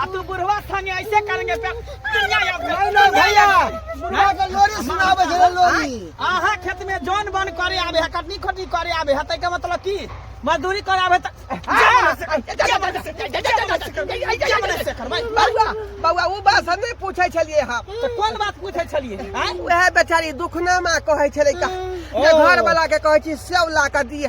आ तू बुढ़वा संगे ऐसे करेंगे पे- चिड़िया या- नहीं नहीं भैया बुढ़वा के लोरी सुनावे छले लोरी आहा खेत में जौन बन करे आवे है कटनी खोटनी करे आवे है तै के मतलब की मजदूरी करे आवे त बउआ बउआ उ बात हम नहीं पूछे छलिए हम तो कोन बात पूछे छलिए आँय? उहे बेचारी दुखनामा कहै छलै का जे ओ। घर वाला के कहै छी सेव ला के दिए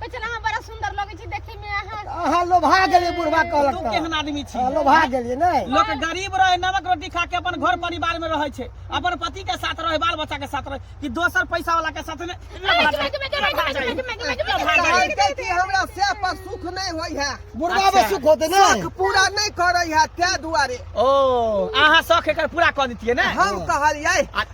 कहै छल अहाँ बड़ा सुंदर लगै छी देखै में अहाँ अहाँ लोभा गेलियै बुढ़वा कहलक तू तऽ। केहन आदमी छी अहाँ लोभा गेलियै ने लोक गरीब रहे नमक रोटी खा के अपन घर परिवार में रहे छै अपन पति के साथ रहे बाल बच्चा के साथ रहे कि दोसर पैसा वाला के साथ ने कहलकै कि हमरा से पर सुख नहि होइ है बुढ़वा में सुख होते ने सुख पूरा नहि करै है तै दुआरे ओ अहाँ शौक एकर पूरा कऽ देतियै ने हम कहलियै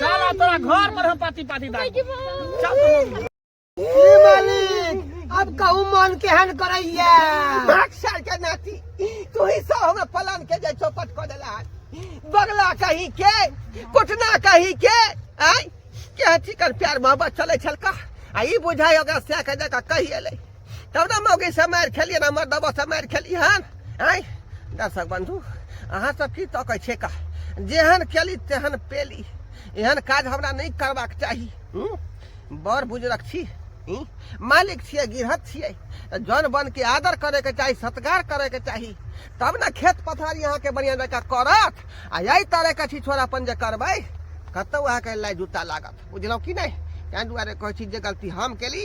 चला तोरा घर पर हम पाती पाती दाई चल तू ए मालिक अब कहू मन केहन करैया भाग साल के नाती तू ही सब हमरा पलान के जे चौपट कर देला बगला कही के कुटना कही के आई के अथी कर प्यार मोहब्बत चले छलका आ ई बुझाय ओकरा से के जका कही एलै तब ने मौगी से मारि खेलिए ना हमर दबा से मारि खेली हन आय दर्शक बंधु अहाँ सब की तकै छै का जेहन केली तेहन पेली एहन काज हमरा नहीं करबाक चाही हम्म? बड़ बुजुर्ग छी हम्म? मालिक छियै गिरहत छियै तऽ जन बन के आदर करे के चाही सत्कार करे के चाही तब ने खेत पथारी अहाँ के बढ़िया जकाँ करत आ यही तरह के छी छोरा अपन जे करबै कतौ अहाँ के लाई जूता लागत बुझलहुँ कि नहीं ताहि दुआरे कहै छी जे गलती हम केली